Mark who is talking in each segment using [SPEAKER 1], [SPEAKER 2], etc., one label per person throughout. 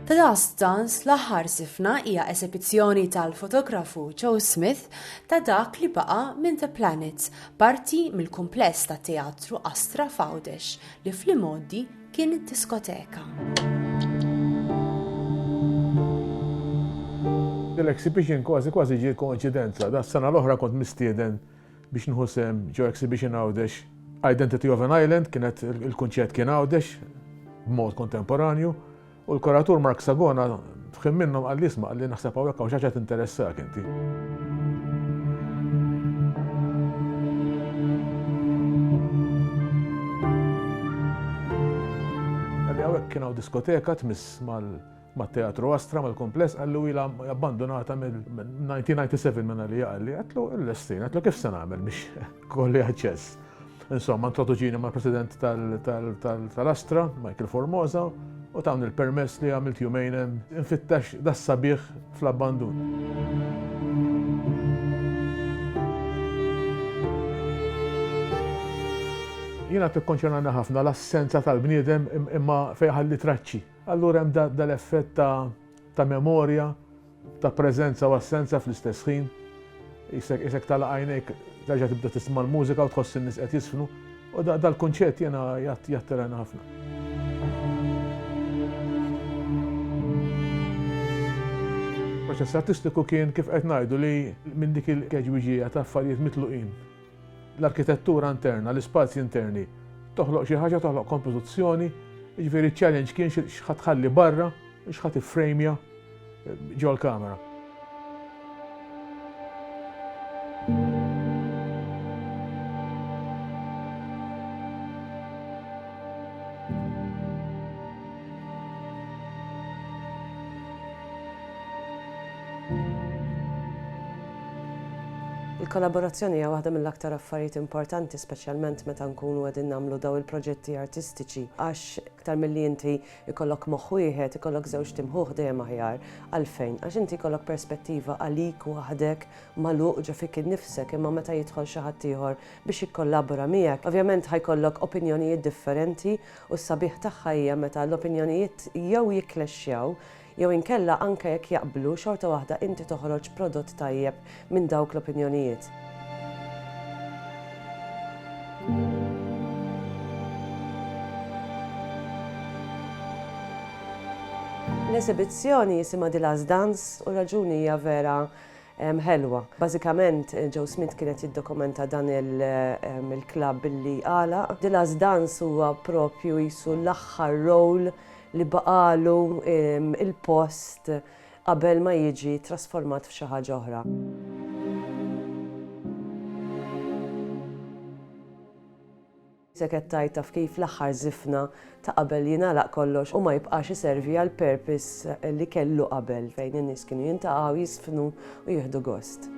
[SPEAKER 1] Tadastans l-aħħar sifna hija esebizzjoni tal-fotografu Joe Smith ta' dak li baqa' minn The Planet, parti mill-kumpless tat-teatru Astra f'Għawdex li fl-imgħoddi kien id-diskoteka. L-exhibition kważi kważi ġie koinċidenza. Das-sena l-oħra kont mistieden biex nieħu sehem ġo exhibition Għawdex. Identity of an Island kienet il-kunċett kien Għawdex b'mod kontemporanju. U l-kuratur Mark Sagona f'ħin minnhom qal li isma' qal li naħseb hawnhekk hawn xi ħaġa tinteressak inti. kien hawn diskoteka tmiss mal-teatru Astra mal-kumpless għallu ila abbandonata mill-1997 minna li għalli għatlu l-lestin, għatlu kif se nagħmel biex Kolli aċċess. Insomma, introduċini ma' president tal-Astra, Michael Formosa, u tawni l-permess li għamilt jumejn infittax das sabiħ fl-abbandun. Jina tikkonċernana ħafna l-assenza tal-bniedem imma fejħalli traċċi. Allura hemm dal-effett ta' memorja ta' preżenza u assenza fl-istess ħin, qisek qisek tagħlaq għajnejk terġa' tibda tisma' l-mużika u tħoss in-nies qed jiżfnu, u da dal-kunċett jiena jgħat jattirajna ħafna. Il-proċess artistiku kien kif qed ngħidu li minn dik il-keġwiġija ta' affarijiet mitluqin. L-arkitettura interna, l-ispazji interni, toħloq xi ħaġa, toħloq kompożizzjoni, jiġifieri ċ-challenge kien x'ħa tħalli barra, x'ħa tiffrejmja, Ġo l-kamera. Il-kollaborazzjoni hija waħda mill-aktar affarijiet importanti, speċjalment meta nkunu qegħdin nagħmlu daw il-proġetti artistiċi, għax iktar milli inti Ikollok moħħ wieħed, ikollok żewġt imħuħ dejjem aħjar. Għalfejn? Għax inti jkollok perspettiva għalik waħdek, magħluq ġo fik innifsek, imma meta jidħol xi ħadd ieħor biex jikkollabora miegħek, ovvjament ħa jkollok opinjonijiet differenti u s-sabiħ tagħha hija meta l-opinjonijiet jew jikklexxjaw Jew inkella anke jekk jaqblu xorta waħda inti toħroġ prodott tajjeb minn dawk l-opinjonijiet. L-esibizzjoni jisimha The Last Dance u raġuni hija vera ħelwa. Bażikament eh, Joe Smith kienet jiddokumenta dan il-klabb billi għala. The Last Dance huwa propju jisu l-aħħar rol li baqagħlu l-post qabel ma jiġi trasformat f'xi ħaġa oħra. Sekettajt taf kif l-aħħar żifna ta' qabel jingħalaq kollox u ma jibqax iservi għal purpose li kellu qabel fejn in-nies kienu jintaqgħu jisfnu u jieħdu gost.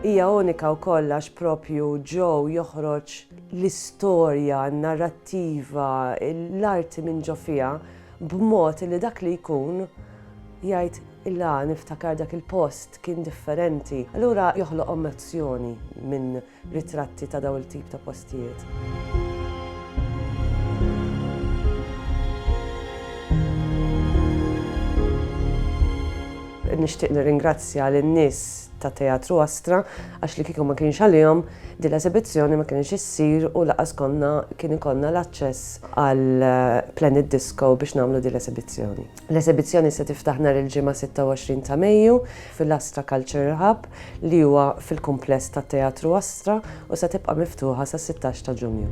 [SPEAKER 1] Hija unika wkoll għax proprju Joe joħroġ l-istorja, n-narrattiva, l-arti minn ġo fiha b'mod illi dak li jkun jgħid ilha niftakar dak il-post kien differenti. Allura joħloq emozzjoni minn ritratti ta' dawn il-tip ta' postijiet. Nixtieq nirringrazzja lin-nies tat-Teatru Astra għax li kieku ma kienx għalihom din l-esibizzjoni ma kinitx issir u lanqas konna kien ikollna l-aċċess għal Planet Disco biex nagħmlu din l-esibizzjoni. L-esibizzjoni se tiftaħ nhar il-Ġimgħa 26 ta' Mejju fil-Astra Culture Hub li huwa fil-kumpless tat-Teatru Astra u se tibqa' miftuħa sas-sittax ta' Ġunju.